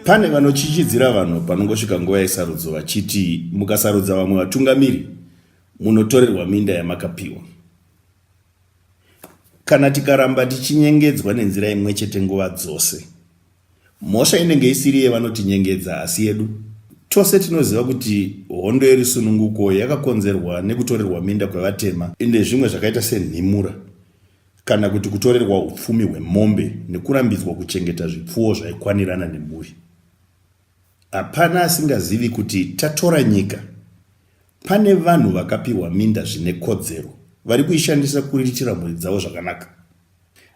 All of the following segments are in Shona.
pane vanochichidzira vanhu panongosvika nguva yesarudzo vachiti mukasarudza vamwe vatungamiri munotorerwa minda yamakapiwa Kana tikaramba tichinyengedzwa nenzira imwe chete nguva dzose, mhosva inenge isiri yevanotinyengedza asi yedu. Tose tinoziva kuti hondo yerusununguko yakakonzerwa nekutorerwa minda kwevatema nezvimwe zvakaita senhimura kana kuti kutorerwa upfumi hwemombe nekurambidzwa kuchengeta zvipfuwo zvaikwanirana nemhuri. Hapana asingazivi kuti tatora nyika. Pane vanhu vakapiwa minda zvine kodzero vari kuishandisa kuriritira mhuri dzavo zvakanaka.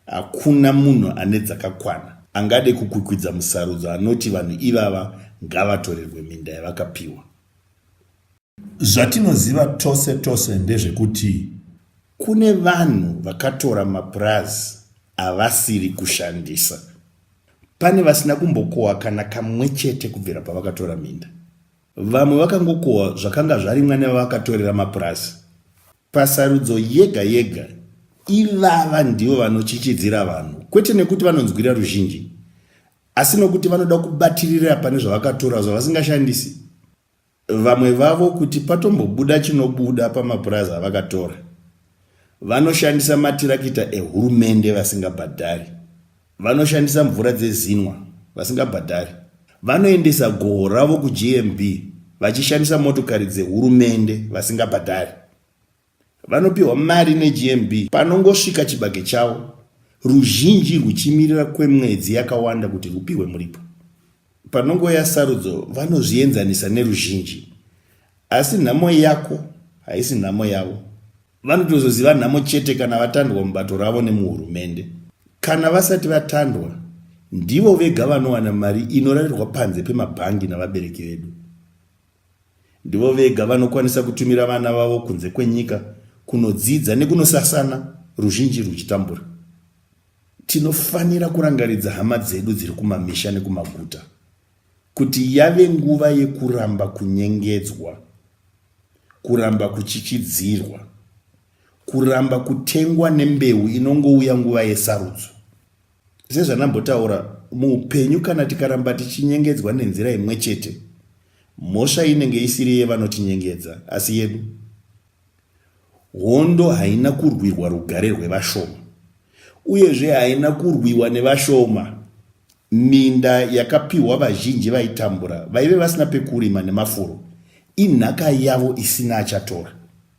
Hakuna munhu ane dzakakwana angade kukwikwidza musarudzo anoti vanhu ivava ngavatorerwe minda yavakapiwa. Zvatinoziva tose tose ndezvekuti kune vanhu vakatora mapurazi avasiri kushandisa. Pane vasina kumbokohwa kana kamwe chete kubvira pavakatora minda. Vamwe vakangokohwa zvakanga zvarimwa nevavakatorera mapurazi. Pasarudzo yega yega, ivava ndivo vanochichidzira vanhu, kwete nekuti vanonzwira ruzhinji, asi nokuti vanoda kubatirira pane zvavakatora zvavasingashandisi. Vamwe vavo kuti patombobuda chinobuda pamapurazi avakatora, vanoshandisa matirakita ehurumende vasingabhadhari, vanoshandisa mvura dzezinwa vasingabhadhari, vanoendesa goho ravo kuGMB vachishandisa motokari dzehurumende vasingabhadhari. Vanopiwa mari neGMB panongosvika chibage chavo, ruzhinji rwuchimirira kwemwedzi yakawanda kuti rwupiwe muripo. Panongouya sarudzo, vanozvienzanisa neruzhinji. Asi nhamo yako haisi nhamo yavo. Vanotozoziva nhamo chete kana vatandwa mubato ravo nemuhurumende. Kana vasati vatandwa, ndivo vega vanowana mari inorarirwa panze pemabhangi navabereki vedu. Ndivo vega vanokwanisa kutumira vana vavo kunze kwenyika kunodzidza nekunosasana ruzhinji rwuchitambura. Tinofanira kurangaridza hama dzedu dziri kumamisha nekumaguta kuti yave nguva yekuramba kunyengedzwa, kuramba kuchichidzirwa, kuramba kutengwa nembeu inongouya nguva yesarudzo. sezvandambotaura muupenyu kana tikaramba tichinyengedzwa nenzira imwe chete mhosva inenge isiri yevanotinyengedza asi yedu hondo haina kurwirwa rugare rwevashoma uyezve haina kurwiwa nevashoma minda yakapiwa vazhinji vaitambura vaive vasina pekurima nemafuro inhaka yavo isina achatora